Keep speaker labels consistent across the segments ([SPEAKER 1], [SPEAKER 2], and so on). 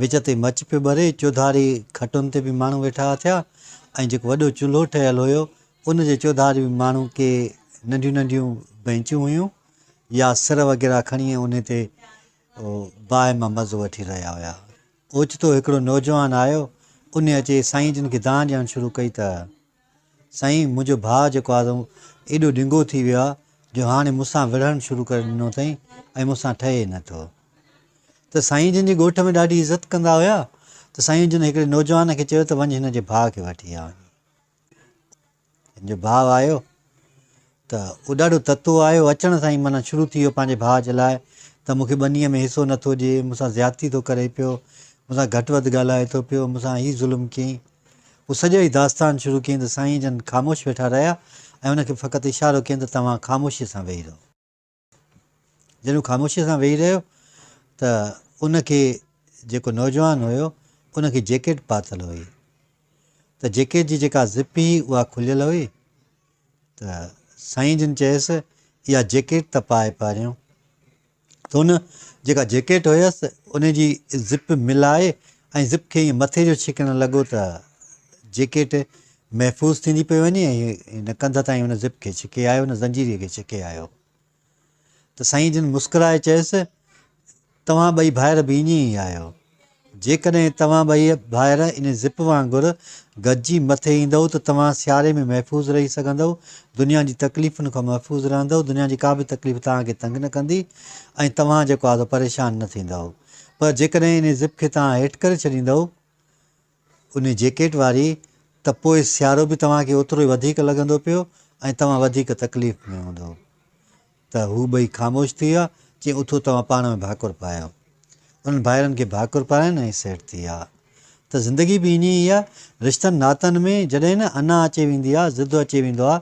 [SPEAKER 1] وچ تي مچ پيو ٻري، چوڌاري کٽن تي به ماڻهو ويٺا اٿيا ۽ جيڪو وڏو چلهو ٺهيل هيو، ان جي چوڌاري به ماڻهو ڪي ننڍيون ننڍيون بئنچون هيون يا سر وغيره کڻي انهي تي باهه مان مزو وٺي رهيا هيا. اوچتو هڪڙو نوجوان آيو، انهي اچي سائين جن کي دانهن ڏيڻ شروع ڪئي ته. سائين منهنجو ڀاء جيڪو آ سو ايڏو ڊنگو ٿي ويو آ جو هاڻي مون سان وڙهڻ شروع ڪري ڏنو اٿئي ۽ مون سان ٺهي نه ٿو ته سائين جن جي ڳوٺ ۾ ڏاڍي عزت ڪندا هيا ته سائين جن هڪڙي نوجوان کي چيو ته وڃ هن جي ڀاء کي وٺي آ وڃي هن جو ڀاء آيو ته اهو ڏاڍو تتو آيو، اچڻ سان ئي معنيٰ شروع ٿي ويو پنهنجي ڀاء جي لاء ته مون کي ٻنيء ۾ حصو نه ٿو ڏئي، مون سان زيادتي ٿو ڪري پيو، مون سان گهٽ وڌ ڳالهائي ٿو پيو، مون سان هي ظلم ڪيئين. هو سڄو ئي داستان شروع ڪيئين ته سائين جن خاموش ويٺا رهيا ۽ هن کي فقط اشارو ڪيئين ته توهان خاموشيء سان ويهي رهو. جڏهن هو خاموشيء سان ويهي رهيو ته ان کي جيڪو نوجوان هيو ان کي جيڪيٽ پاتل هئي ته جيڪيٽ جي جيڪا زپ هئي اها کليل هئي ته سائين جن چيس اها جيڪيٽ ته پائي پاريون ته ان جيڪا جيڪيٽ هيس ان جي زپ ملائي ۽ زپ کي ائين مٿي جو ڇڪڻ لڳو ته جيڪيٽ محفوظ ٿيندي پئي وڃي ۽ هن ڪنڌ تائين ان زپ کي ڇڪي آيو، ان زنجيري کي ڇڪي آيو ته سائين جن مسڪرائي چيس، توهان ٻئي ڀائر به ائين ئي آهيو. جيڪڏهن توهان ٻئي ڀائر ان زپ وانگر گڏجي مٿي ايندؤ ته توهان سياري ۾ محفوظ رهي سگهندؤ، دنيا جي تڪليفن کان محفوظ رهندؤ، دنيا جي ڪا به تڪليف توهان کي تنگ نه ڪندي ۽ توهان جيڪو آهي سو پريشان نه ٿيندؤ. پر جيڪڏهن ان زپ کي توهان هيٺ ڪري ڇڏيندؤ، انهي جيڪيٽ واري ته پوء سيارو به توهان کي اوترو ئي وڌيڪ لڳندو پيو ۽ توهان وڌيڪ تڪليف ۾ هوندؤ. ته هو ٻئي خاموش ٿي ويا. چيائين اٿو توهان پاڻ ۾ ڀاڪر پايو. انهن ڀائرن کي ڀاڪر پارائين ۽ سيٽ ٿي ويا. ته زندگي به ائين ئي آهي. رشتن ناتن ۾ جڏهن نه انا اچي ويندي آهي، ضد اچي ويندو آهي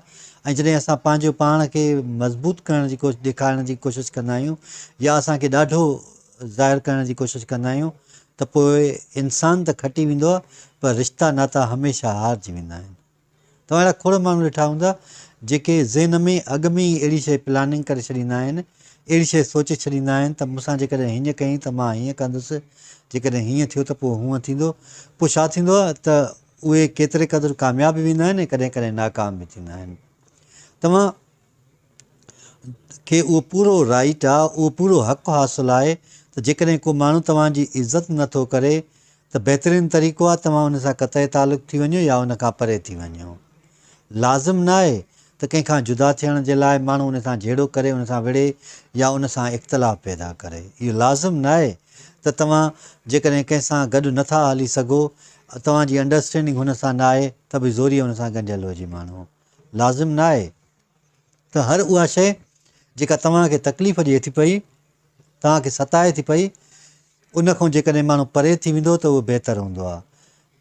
[SPEAKER 1] ۽ جڏهن اسان پنهنجو پاڻ کي مضبوط ڪرڻ جي ڪوشش ڏيکارڻ جي ڪوشش ڪندا آهيون يا اسان کي ڏاڍو ظاهر ڪرڻ جي ڪوشش ڪندا آهيون ته پوء انسان ته کٽي ويندو آهي پر رشتا ناتا هميشه هارجي ويندا آهن. توهان اهڙا کوڙ ماڻهو ڏٺا هوندا جيڪي ذهن ۾ اڳ ۾ ئي اهڙي شيء پلاننگ ڪري ڇڏيندا آهن، اهڙي شيء سوچي ڇڏيندا آهن ته مون سان جيڪڏهن هينئن ڪيائين ته مان هينئن ڪندس، جيڪڏهن هينئن ٿيو ته پوء هونئن ٿيندو. پوء ڇا ٿيندو آهي ته اهي ڪيتري قدر ڪامياب به ويندا آهن ۽ ڪڏهن ڪڏهن ناڪام به ٿيندا آهن. توهان کي اهو پورو رائيٽ آ، اهو پورو حق حاصل آهي ته جيڪڏهن ڪو ماڻهو توهان جي عزت نه ٿو ڪري ته بهترين طريقو آهي توهان ان سان قطعي تعلق ٿي وڃو يا ان کان پري ٿي وڃو. لازم ناهي ته ڪنهن کان جدا ٿيڻ جي لاء ماڻهو ان سان جهيڙو ڪري، ان سان وڙهي يا ان سان اختلاف پيدا ڪري. اهو لازم ناهي ته توهان جيڪڏهن ڪنهن سان گڏ نه ٿا هلي سگهو، توهان جي انڊرسٽينڊنگ هن سان ناهي ته به زوريء هن سان ڳنڍيل هجي ماڻهو. لازم نه آهي ته هر اها شيء جيڪا توهان کي تڪليف ڏئي ٿي پئي، توهان کي ستائي ٿي پئي، ان کان جيڪڏهن ماڻهو پري ٿي ويندو ته اهو بهتر هوندو آهي.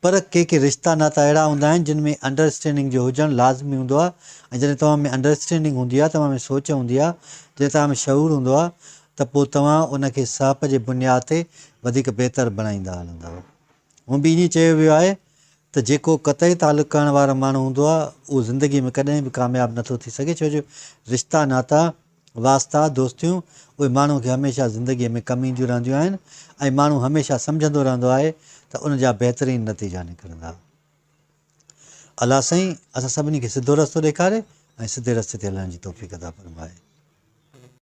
[SPEAKER 1] پر ڪي ڪي رشتا ناتا اهڙا هوندا آهن جن ۾ انڊرسٽينڊنگ جو هجڻ لازمي هوندو آهي ۽ جڏهن توهان ۾ انڊرسٽينڊنگ هوندي آهي، توهان ۾ سوچ هوندي آهي، جڏهن توهان ۾ شعور هوندو آهي ته پوء توهان ان کي سهپ جي بنياد تي وڌيڪ بهتر بڻائيندا هلندؤ. هونء به ائين چيو ويو آهي ته جيڪو قطعي تعلق ڪرڻ وارو ماڻهو هوندو آهي اهو زندگي ۾ ڪڏهن به ڪامياب نه ٿو ٿي سگهي ڇو جو رشتا ناتا، واسطا، دوستيون اهي ماڻهو کي هميشه زندگي ۾ ڪم اينديون رهنديون آهن ۽ ماڻهو هميشه سمجهندو رهندو آهي ته ان جا بهترين نتيجا نڪرندا. الله سائين اسان سڀني کي سڌو رستو ڏيکاري ۽ سڌي رستي تي هلڻ جي توفيق عطا فرمائي.